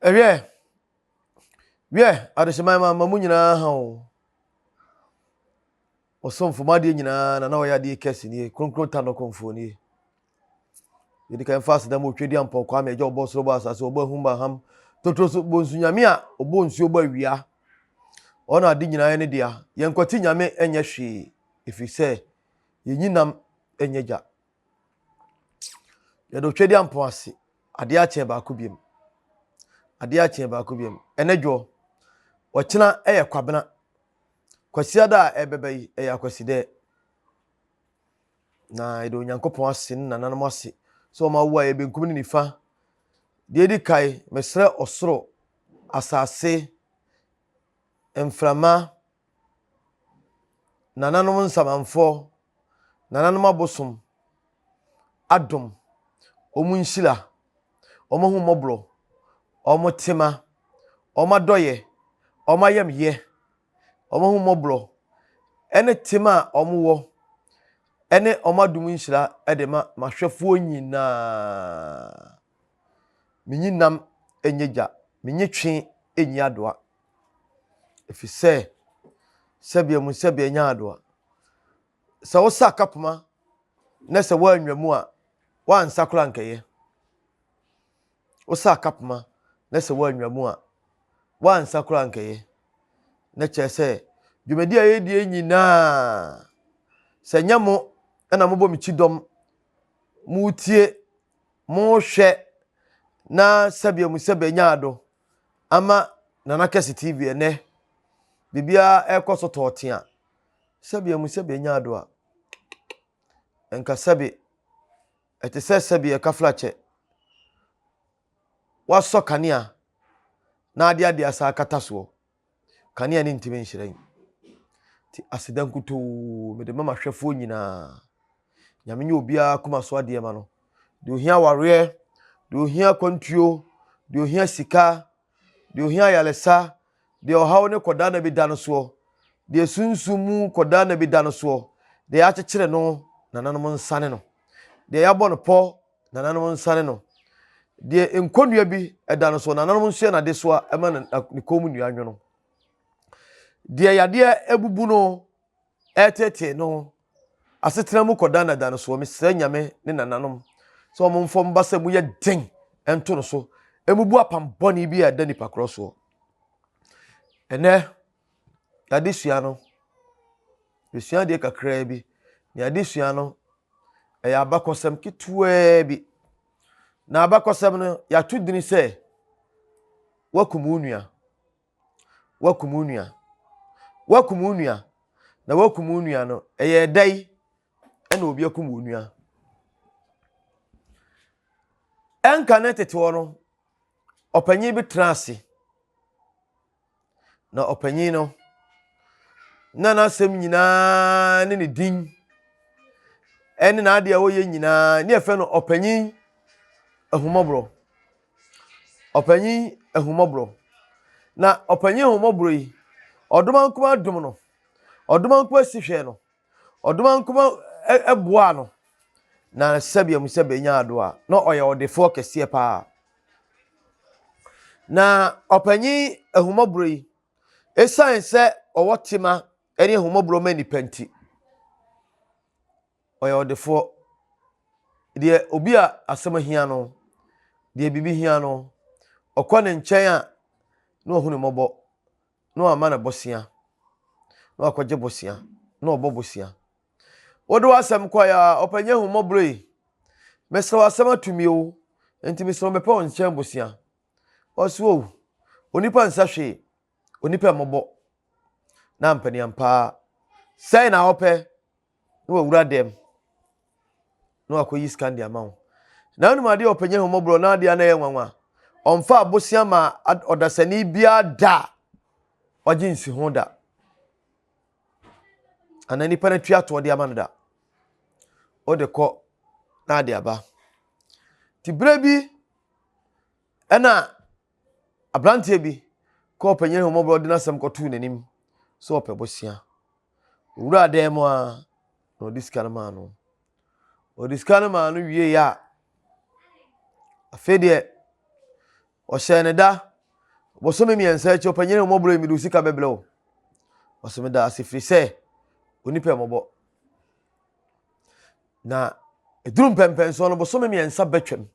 Ɛhwɛ, wiɛ adehyɛman ma ma mu nyinaa ha o. Ɔsomfo ma adeɛ nyinaa na na ɔyɛ adeɛ kɛse nie, kronkron ta no kɔmfoɔ nie. Yɛdi kan fa aseda mu otwe di ampɔ kwa ma ɛgya ɔbɔ soro bɔ asase ɔbɔ ahum ba ham totoro so bɔ nsu nyame a ɔbɔ nsuo bɔ awia. Ɔna ade nyinaa ne dea. Yɛn nkwati nyame ɛnyɛ hwee ɛfiri sɛ yɛnyi nam nyɛ gya. Yɛde Otwadia mpɔn ase. Adeɛ akye baako biam. Adeɛ akye baako biam. Ɛnɛ dwoɔ. Ɔkyena yɛ kwabena. Kwasiada a ɛbɛba yi ɛyɛ akwasidɛ. Na yɛde Onyankopɔn ase ne nananom ase sɛ wɔn awo a ɛyɛ benkum ne nifa. Deɛ edi kae, mesrɛ ɔsoro, asase, mframa, nananom nsamanfoɔ, nananom abosom adom, wɔn nhyira, wɔn ahummɔborɔ, wɔn tema, wɔn adɔeɛ, wɔn ayamyɛ, wɔn ahummɔborɔ, ɛne tema a wɔwɔ, ɛne wɔn adom nhyira de ma m'ahwɛfoɔ nyinaa. Menyi nam nyɛ gya, menyi twe nyi adoa. Ɛfiri sɛ, sɛdeɛ mu sɛdeɛ nya ado a, sɛ wosa kapoma na sɛ woanwa mu a, woansa koraa nkɛyɛ. Wosa kapoma na sɛ woanwa mu a, woansa koraa nkɛyɛ. Na kyerɛ sɛ, dwumadi a yɛdie nyinaa, sɛ nyɛ mo na mobɔ me kyidɔm, motie, mohwɛ na sɛdeɛ mu sɛdeɛ nya ado. ama Nana Kɛse TV ɛnɛ biribiara ɛkɔ so tɔɔtea sɛbi ɛmu sɛbi ɛnya ado a ɛnka sɛbi ɛte sɛ sɛbi ɛka flakyɛ wasɔ kanea na ade ade asa akata soɔ Kanea no ntumi nhyerɛn. Nti aseda nkutoo mede ma m'ahwɛfoɔ nyinaa. Nyame nyɛ obiara akoma so adeɛ ma no. Deɛ ohia awareɛ, deɛ ohia kwantuo, deɛ ohia sika, deɛ ohia ayaresa, deɛ ɔhaw ne kɔdaa na bi da no soɔ, deɛ sunsum mu kɔdaa na bi da no soɔ, deɛ yɛakyekyere no nananom nsa ne no, deɛ yɛabɔ no pɔ Nananom nsane no. Deɛ nkonnua bi da no so, nananom nso yɛ no adesoa ma ne kɔn mu nnua nwono. Deɛ yadeɛ abubu no ɛretetee no asetena mu kɔdanada no soɔ. Mesrɛ Nyame ne nananom sɛ wɔn mfa wɔn basa mu yɛ den nto no so, ɛmubu apam bɔne bi a ɛda nipa korɔ soɔ. Ɛnɛ Adesua no, yɛsua adeɛ kakraa bi. Na adesua no, ɛyɛ abakɔsɛm ketewaa bi. Na abakɔsɛm no, yɛato dini sɛ, wakum wo nua. Wakum wo nua. Wakum wo nua. Na wakum wo nua no, ɛyɛ ɛda yi ɛna obi akum wo nua. Ɛnka ne tete hɔ no, ɔpanyin bi tena ase. Na ɔpanyin no, na n'asɛm nyinaa ne ne din ɛne n'ade a ɔyɛ nyinaa ne yɛfrɛ no ɔpanyin ahumɔborɔ ɔpanyin ahumɔborɔ na ɔpanyin ahumɔborɔ yi ɔdoma nkoma dom no ɔdoma nkoma si hwɛ no Ɔdomankoma boaa no na sɛbea mu sɛ benya ado a, na ɔyɛ ɔdefoɔ kɛseɛ paa. Na ɔpanyin ahummɔborɔ yi, esiane sɛ ɔwɔ tema ne ahummɔborɔ ma nnipa nti, ɔyɛ ɔdefoɔ. Deɛ obi a asɛm hia no, deɛ biribi hia no, ɔkɔ ne nkyɛn a, na ɔhu ne mmɔbɔ. na wama no bosea na wakɔgye bosea na ɔbɔ bosea wode w'asɛm kɔe a ɔpɛnyɛ ahummɔborɔ yi mesrɛ w'asɛm ato mi o nti mesrɛ mepɛ wo nkyɛn bosea ɔse o onipa nsa hwee onipa mmɔbɔ na mpaniampaa sɛe na ɔpɛ na wawura dɛm na wakɔyi sika de ama wo na wonim adeɛ ɔpɛnyɛ homɔborɔ na adeɛ na ɛyɛ nwanwa ɔmfa abosea ma ɔdasani biara da a wagye nsi ho da anaa nipa no atwi atoɔ de ama no da wode kɔ na ade aba nti berɛ bi ɛna aberanteɛ bi kɔɔ panyin homɔborɔ de n'asɛm kɔtoo n'anim sɛ ɔpɛ bosea Ɔwuraa dan mu ara na ɔde sika no maa no. Ɔde sika no maa no wieeɛ a, afei deɛ ɔhyɛɛ ne da bosome mmiɛnsa akyi ɔpanyini mmɔborɔ yi mede wo sika bɛbrɛ wo ɔsɛ meda ase firi sɛ onipa mmɔbɔ na ɛduru mpɛmpɛnsoɔ no bosome mmiɛnsa bɛtwam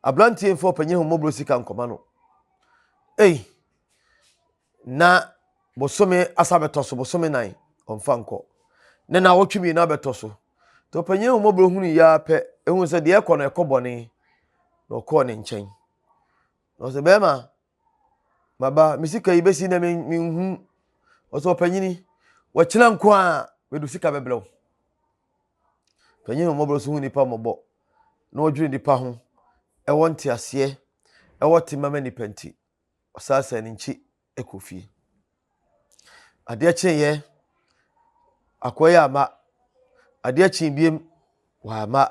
aberanteɛ mfa ɔpanyini mmɔborɔ sika nkɔma no ei na bosome asa bɛtɔ so bosome nan ɔmfa nkɔ ne na wɔtwe mmienu abɛtɔ so nti ɔpanyin ahomɔborɔ hunu yɛ ara pɛ ehun sɛ deɛ ɛkɔ no ɛkɔ bɔne na ɔkɔɔ ne nkyɛn na ɔsɛ bɛrima maba me sika yi bɛsi na menhu ɔsɛ ɔpanyini wɔkyena nko a mede sika bɛbrɛ wo panyin ahomɔborɔ so hu nipa mmɔbɔ na ɔdwene nipa ho ɛwɔ nteaseɛ ɛwɔ tema ma nipa nti ɔsaasae ne nkyi kɔ fie. Adeɛ kyeeɛ, akɔeɛ amma. Adeɛ kyee biem, wamma.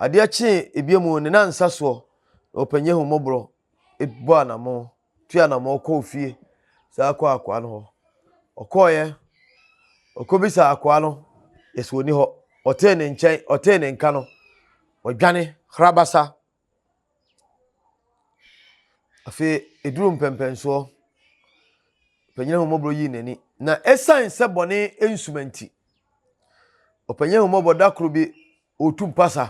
Adeɛ kyee ebiem o, ne nan nsa soɔ na ɔpanyin ahummɔborɔ bɔ anamɔn, tu anamɔn kɔɔ fie saa kɔɔ akoa no hɔ. Ɔkɔeɛ, ɔkɔbisaa akoa no, yɛse ɔnni hɔ. Ɔtee ne nkyɛn, ɔtee ne nka no, ɔdwane, hrabasa. Afei eduruu mpɛnpɛnsoɔ, ɔpanin ahummɔborɔ yii n'ani, na ɛsiane sɛ bɔne nsuma nti, ɔpanin ahummɔborɔ da koro bi ɔretu mpasa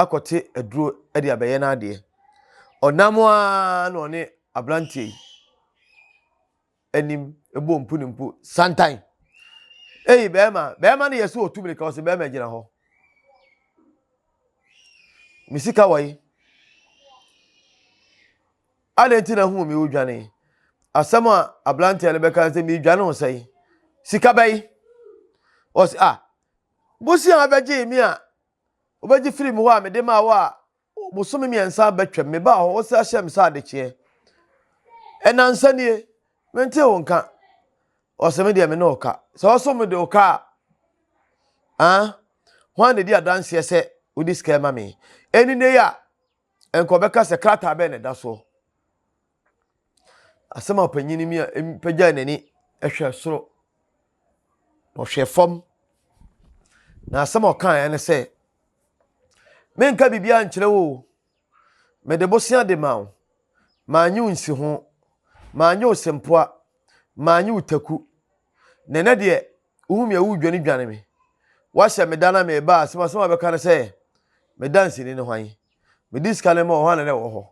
akɔte aduro de abɛyɛ n'adeɛ. Ɔnam ara na ɔne aberanteɛ yi. anim bɔ mpu ne mpu santan. Ei, bɛrima, bɛrima no yɛ sɛ ɔtu mirika, ɔse bɛrima gyina hɔ. Me sika wɔ yi. Adɛn nti na hu me wodwane? Asɛm a aberanteɛ no bɛka sɛ medwane ho sɛe. Sika bɛyi. Ɔse, ah, bosi a wobɛgye me a, wobɛgye firi me hɔ a mede maa wo a, Bosome mmiɛnsa abɛtwam, mebaa hɔ, wosan hyɛɛ me sɛ adekyeɛ. Ɛnansa nie, mentee wo nka. Ɔsɛ me deɛ me ne ɔka. Sɛ ɔso me de ɔka a, ah, hwan na ɛdi adanseɛ sɛ wode sika ma me? Ɛni ne yɛ a, nka ɔbɛka sɛ krataa bɛn na ɛda soɔ. Asɛm a ɔpanyin no mia pagyae n'ani hwɛ soro. Ɔhwɛ fam. Na asɛm a ɔkaeɛ ne sɛ, Menka biribiara nkyerɛ wo o. Mede bosea de ma wo. Manyɛ wo nsiho. Manyɛ wo sempoa. Manyɛ wo taku. Na ɛnɛ deɛ, wohu me a woredwanedwane me. Woahyɛ me da na meba a, asɛm asɛm a wobɛka ne sɛ, Me danseni ne hwan? Mede sika no ma wo, hwan na na ɛwɔ hɔ?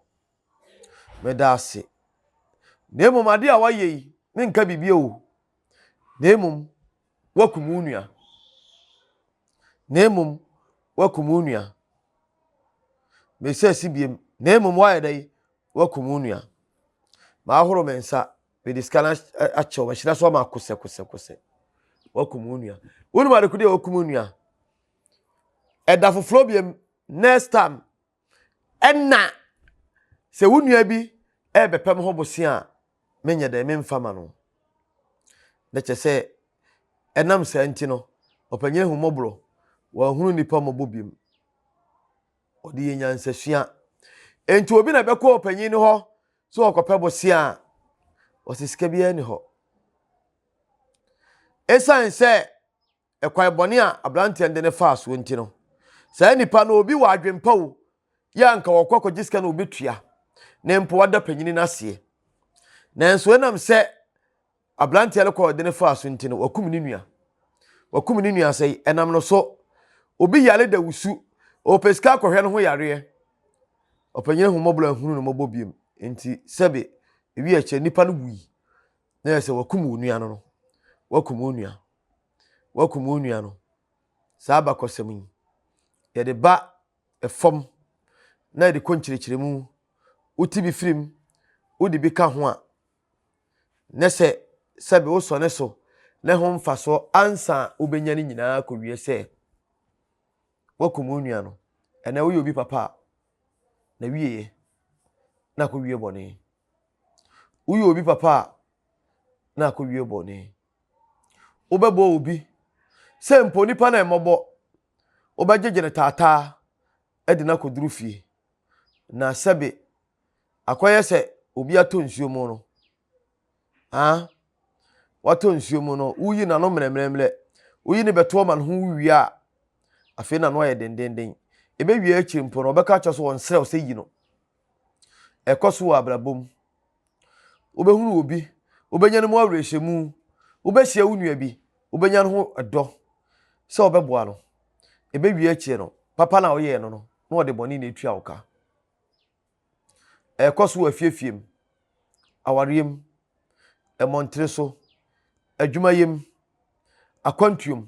Meda ase. Na mmom ade a woayɛ yi, menka biribi o, na mmom woakum wo nua. Na mmom woakum wo nua. Mesa si biem, na mmom woayɛ dɛn? Woakum wo nua. Mahoro me nsa, mede sika no akyɛ wo, mahyira so ama kosɛkosɛkosɛ. Woakum wo nua. Wonim adekode a wokum wo nua? Ɛda foforɔ biem, next time, Ɛna sɛ wo nua bi rebɛpam ho bosea a, menyɛ dɛn? Memfa ma no. Na kyerɛ sɛ, ɛnam saa nti no, ɔpanyin ahummɔborɔ, wanhunu nnipa mmɔbɔ biom. Ɔde yɛ nyansasua. Enti obi na ɛbɛkɔ ɔpanyin no hɔ sɛ ɔkɔpɛ bosea a, ɔsɛ sika biara ni hɔ. Esiane sɛ ɛkwan bɔne a aberanteɛ no de no faa soɔ nti no, saa nnipa no obi wɔ adwempa o, yɛ a nka wɔkɔ kɔgye sika na wɔbɛtua ne mpo wada panyini no aseɛ. Nanso ɛnam sɛ aberanteɛ no kɔɔ de no faa so nti no, wakum ne nua. Wakum ne nua sɛ ɛnam no so, obi yare da wusu, ɔpɛ sika akɔhwɛ no ho yareɛ. Ɔpanyini ho mmɔborɔ ahunu no mmɔbɔ biom nti sɛbe ewi akyɛ nnipa no wui na yɛ sɛ wakum wo nua no no, wakum wo nua. woakum wo nua no. Saa abakɔsɛm yi, yɛde ba fam na yɛde kɔ nkyerɛkyerɛmu. Wote bi firim, wode bi ka ho a, na sɛ sɛbe wosɔ ne so na ɛho mfasoɔ ansa a wobɛnya no nyinaa kɔwie sɛ woakum wo nua no. Ɛnɛ woyɛ obi papa a, na wieɛ na akɔwie bɔne. Woyɛ obi papa a, na akɔwie bɔne. Wobɛbɔ obi, sɛ mpo onipa no a mmɔbɔ, wobɛgyegye no taataa de no akɔduru fie, na sɛbe akɔyɛ sɛ obi atɔ nsuo mu no, ah, watɔ nsuo mu no, woyi n'ano mmerɛmmerɛmmerɛ, woyi ne bɛtoɔ ma no ho wie a, afei n'ano ayɛ dendenden. Ɛbɛwie akyiri mpo no, wɔbɛka akyerɛ so wɔn serɛ wo sɛ yi no. Ɛkɔ so wɔ abrabɔ mu. Wobɛhunu obi, wobɛnya no mu awerɛhyɛmu. Wobɛhyia wo nua bi, wobɛnya no ho dɔ sɛ ɔbɛboa no. Ɛbɛwie akyire no, papa na ɔyɛɛ no no, na ɔde bɔne na ɛtua wo ka. Ɛkɔ so wɔ afiefie mu, awareɛ mu, mmɔntene so, adwumayɛ mu, akwantuo mu.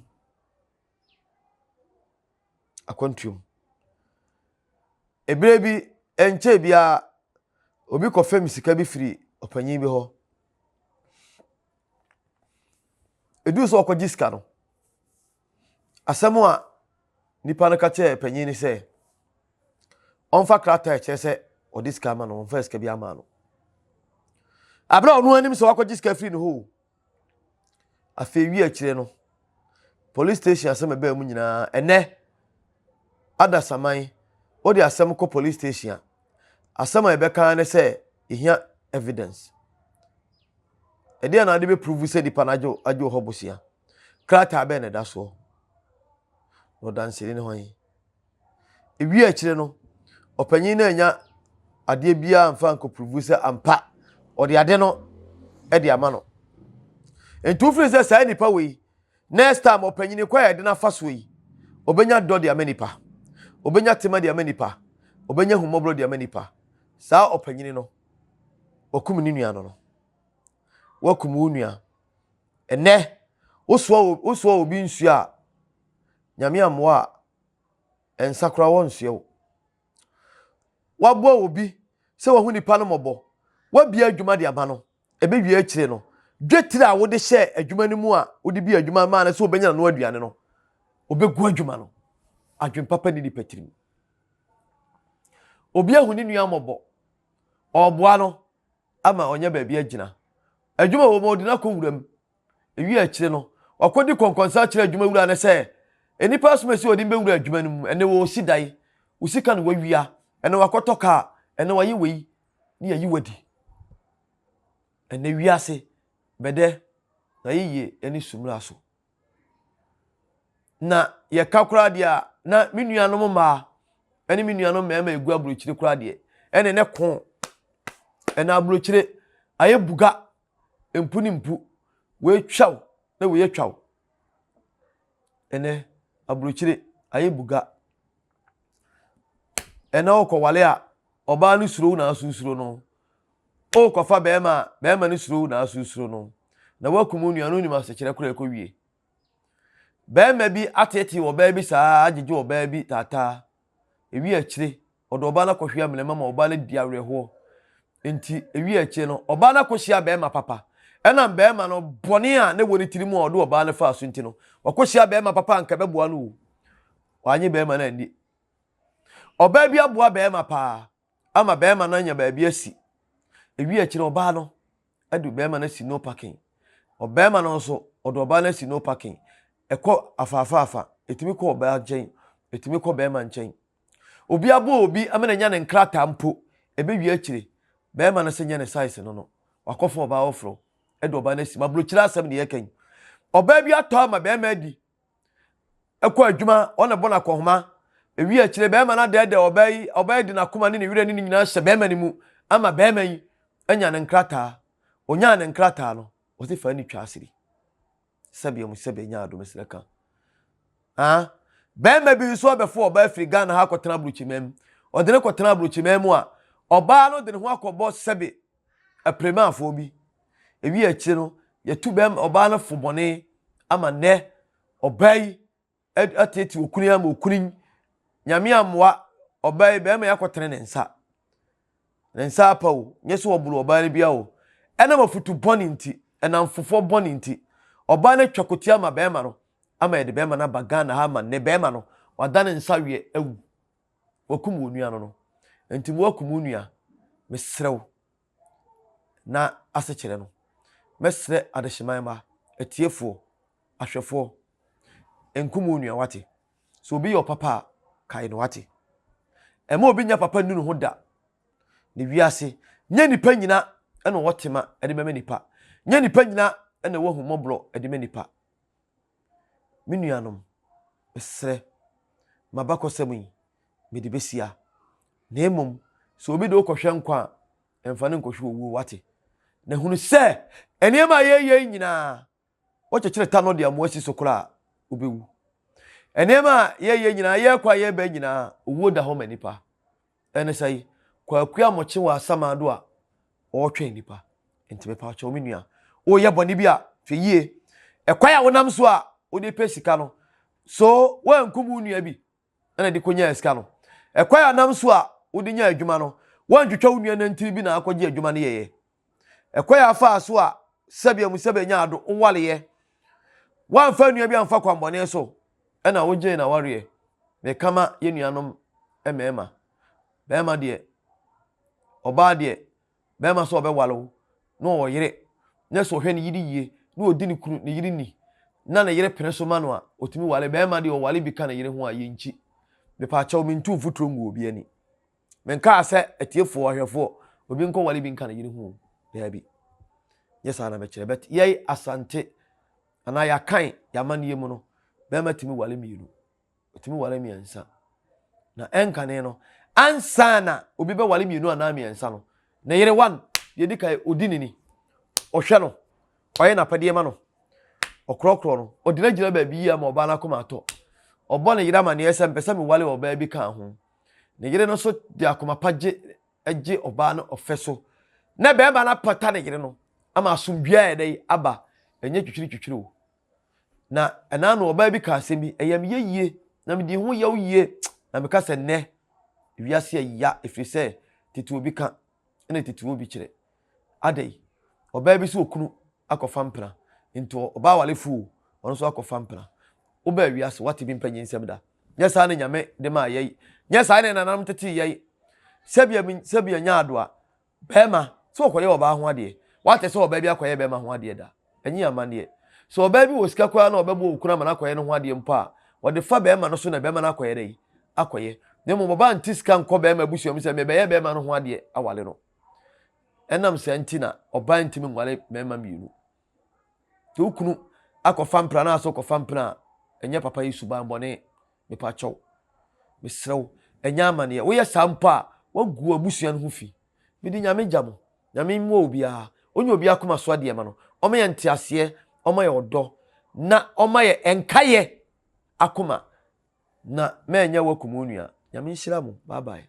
akwantuo mu. Ɛberɛ bi ɛnkyɛɛ biara obi kɔ fɛm sika bi firi ɔpanin bi hɔ. Ɛduru sɛ ɔkɔgye sika no, asɛm a nipa no ka kyerɛɛ panin no sɛ, ɔmfa krataa ɛkyerɛ sɛ ɔde sika ama no, ɔmfa sika bi ama no. Aberɛ a ɔno anim sɛ wakɔgye sika firi ne hɔ o, Afei wi akyire no, police station asɛm ɛbaa mu nyinaa. Ɛnɛ, adasaman, wode asɛm kɔ police station a, asɛm a ɛbɛka ne sɛ yɛhia evidence. Ɛdeɛ na wode bɛprovu sɛ nipa no agye agye hɔ bosia. Krataa bɛn na ɛda soɔ? Na ɔdanseni ne hwan? Ewiee akyire no, ɔpanin no annya adeɛ biara mfa ankɔpuruvu sɛ ampa ɔde ade no de ama no. Nti wofiri sɛ saa nipa wei, next time ɔpanin kɔ a yɛde no afa soɔ yi, ɔbɛnya dɔ de ama nipa, ɔbɛnya tema de ama nipa, ɔbɛnya ahummɔborɔ de ama nipa. Saa ɔpanin no, wakum ne nua no no. Wakum wo nua. Ɛnɛ, wosoa obi nsuo a, nyame ammoa a, nsa koraa wɔnsoɛ wo. Woaboa obi sɛ wahu nipa no mmɔbɔ, woabia adwuma de ama no, ɛbɛwie akyire no, dwetire a wode hyɛɛ adwuma no mu a wode bi adwuma maa no sɛ ɔbɛnya n'ano aduane no, ɔbɛgu adwuma no. Adwene papa ni nipa tirim. Obi ahu ne nua mmɔbɔ, ɔreboa no ama ɔnyɛ baabi agyina. Adwuma wɔ mu ɔde no akɔ nwuram, Ewiee akyire no, wakɔdi kɔnkɔnsa akyerɛ adwuma wura no sɛ, Nnipa asom asi wɔde me bɛwura adwuma no mu, ɛnne wɔresi dan, wo sika na wɔawia, ɛnne wɔakɔtɔ kaa, ɛnne wɔayɛ wei, na yɛayi wo adi. Ɛnne wiase bɛdɛ na yɛyɛ ne su mmara so. Na yɛka koraa deɛ a, na me nuanom mmaa ne me nuanom mmarima ɛgu aburokyire koraa deɛ, ɛnne ne ko, ɛna aburokyire ayɛ buga mpu ne mpu, wei twaw na wei atwaw. Ɛnɛ, aburokyire ayɛ buga. Ɛnɛ wokɔwale a, ɔbaa no suro wo na aso suro no. Wokɔfa bɛrima a, bɛrima no suro wo na aso suro no. Na woakum wo nua no wonim asekyerɛ koraa ɛkɔwie. Barima bi ateetee ɔbaa bi saa ara agyegye ɔbaa bi taataa. Ewiee akyire, ɔde ɔbaa no akɔhwie amena mu ama ɔbaa no adi awerɛhoɔ. Enti ewiee akyire no, ɔbaa no akɔhyia barima papa. Ɛnam barima no bɔne a na ɛwɔ ne tirim a ɔde ɔbaa no faa so nti no, wakɔhyia barima papa a anka ɛbɛboa no o. Wannye barima no anni. Ɔbaa bi aboa barima paa. ama bɛɛma no anya baabi asi. Ewie akyi no, ɔbaa no de bɛɛma no asi no parking. Ɔbɛɛma no nso, ɔde ɔbaa no asi no parking. Ɛkɔ afaafaafa, ɛtumi kɔ ɔbaa nkyɛn, ɛtumi kɔ bɛɛma nkyɛn. Obi aboa obi ama no anya ne nkrataa mpo, ɛbɛwie akyire, bɛɛma no sɛ nyɛ ne size no no, wakɔfa ɔbaa foforɔ de ɔbaa no asi mu. Aburokyire asɛm ne yɛka yi. Ɔbaa bi atɔ ama bɛɛma adi ɛkɔ adwuma, ɔna bɔ no akɔnhoma. Ewi akyire, bɛrima no adɛɛdɛ ɔbaa yi, ɔbaa yi de n'akoma ne ne werɛ ne ne nyinaa hyɛ bɛrima no mu ama bɛrima yi anya ne nkrataa. Onyaa ne nkrataa no, ɔse fa ni twa asiri. Sɛbea mu sɛbea nya adom srɛ ka. Ah, bɛrima bi nso abɛfo ɔbaa firi Ghana ha akɔtena aburokyiman mu. Ɔde no kɔtena aburokyiman mu a, ɔbaa no de ne ho akɔbɔ sɛbe apiremafoɔ bi. Ɛwi akyire no, yɛtu bɛrima ɔbaa no fo bɔne ama nnɛ ɔbaa yi atete okunu yi ama okunu yi. Nyame amoa ɔbaa yi bɛrima yi akɔtene ne nsa. Ne nsa apa o, nyɛ sɛ ɔboro ɔbaa no bia o. Ɛnam afutu bɔne nti, ɛnam fofoɔ bɔne nti, ɔbaa no atwa kotia ama bɛrima no ama yɛde bɛrima no aba Ghana ha ama nnɛ bɛrima no wada ne nsa weɛ awu. wɔakum wɔn nua no no. Enti moakum mo nua, mesrɛ wo, na ase kyerɛ no. Mɛsrɛ adehyeman mma, atiefoɔ, ahwɛfoɔ, nkum wo nua, wate? Sɛ obi yɛ ɔpapa a, kae no, wate? Ɛma obi nya papa nnu ne ho da. Ne wiase, nyɛ nipa nyina na ɔwɔ tema de bɛma nipa. Nyɛ nipa nyina na ɛwɔ ahummɔborɔ de ma nipa. Me nuanom, mesrɛ, m'abakɔsɛm yi, mede besia. Na mmom, sɛ obi de wo kɔhwɛ nkwa a, ɛmfa no nkɔhwɛ owuo, wate? Na hunu sɛ, nneɛma a yɛyɛ yi nyinaa, wɔkyekyere ta no de amoa si so koraa a, wobɛwu. Nneɛma a yɛyɛ nyinaa, yɛkɔ a yɛba nyinaa, owuo da hɔ ma nipa. Ɛne sɛ yi, Kwaku Amokye wɔ Asamado a ɔretwɛn nipa. Nti mepa kyɛw me nua, woyɛ bɔne bi a, hwɛ yie. Ɛkwan a wonam so a wode pɛ sika no, so woankum wo nua bi na de kɔnyaa sika no? Ɛkwan a wonam so a wode nya adwuma no, woantwitwa wo nua nantini bi na akɔgye adwuma no yɛeɛ? Ɛkwa a afaa so a sɛbea mu sɛ benya ado nwareyɛ. Wɔamfa nua bi amfa kwammɔne so na wogyee n'awareɛ. Meka ma yɛn nuanom mmarima, barima deɛ, ɔbaa deɛ, barima sɛ ɔbɛware wo na ɔwɔ yere na sɛ ɔhwɛ ne yere yie na ɔdi ne kunu ne yere ni na ne yere pene so ma no a, ɔtumi ware. Barima deɛ ɔware bi ka ne yere ho a, yɛnkyi. Mepaakyɛw mentu mfuturo ngu obi ani. Menkaa sɛ atiefoɔ, ahwɛfoɔ, obi nkɔ wale bi nka ne yere ho o. Daabi. Nyɛ saa na mɛkyerɛ. But yɛi Asante anaa yɛakan yɛamanneɛ mu no, bɛrima tumi wale mmienu. Ɔtumi wale mmiɛnsa. Na ɛnkane no, ansa na obi bɛwale mmienu anaa mmiɛnsa no, ne yere one, deɛ di kan, ɔdi ne ni. Ɔhwɛ no. Ɔyɛ n'apɛdeɛ ma no. Ɔkorɔkorɔ no. Ɔgyinagyina baabi yie ama ɔbaa no akoma atɔ. Ɔbɔ ne yere amanneɛ sɛ mpɛ sɛ mewale ɔbaa bi kaa ho. Ne yere no nso de akoma pa gye gye ɔbaa no ɔfɛ so. Na barima no apata ne yere no ama asomdwoe a ɛdɛ yi aba. Ɛnyɛ twitwiritwitwiri o. Na ɛna no ɔbaa bi ka asɛm bi, ɛyɛ me yɛ yie, na medi ho yaw yie. Na meka sɛ nnɛ, wiase a ya, ɛfiri sɛ tete obi ka ɛna tete obi kyerɛ. Adɛ yi, ɔbaa bi sɛ okunu akɔfa mpena, nti ɔbaa walefoɔ o, ɔno nso akɔfa mpena. Wobaa wiase, wate bi mpanyin nsɛm da. Nyɛ saa na Nyame de maa yɛn. Nyɛ saa na yɛn nananom tetee yɛn. Sɛbea min, sɛbea nyaadoa, bɛɛma, sɛ wɔkɔyɛ ɔbaa ho adeɛ. Woate sɛ ɔbaa bi akɔyɛ bɛɛma ho adeɛ da? Ɛnye amanneɛ. Sɛ ɔbaa bi wɔ sika koraa na ɔbɛboa okunu ama no akɔyɛ ne ho adeɛ mpo a, ɔde fa bɛɛma no so na bɛɛma no akɔyɛ dɛn? Akɔyɛ. Na mmom ɔbaa nte sika nkɔ bɛɛma abusua mu sɛ, Mebɛyɛ bɛɛma no ho adeɛ aware no. Ɛnam saa nti na ɔbaa ntumi nware mmarima mmienu. Sɛ wo kunu akɔfa mpena na asɛ ɔkɔfa mpena a, ɛnyɛ papa yi suban bɔne. Mepa kyɛw. Mesrɛ wo, ɛnyɛ amaneɛ. Woyɛ saa mpo a, woagu abusua no ho fi. Mede Nyame gya mo. Nyame mmoa obiara. Ɔnya obi akoma so adeɛ ma no. Ɔma yɛ nteaseɛ, ɔma yɛ ɔdɔ, na ɔma yɛ ɛnkayɛ akoma. Na mɛnyɛ wo akum wo nua. Nyame nhyira mo. Bye bye.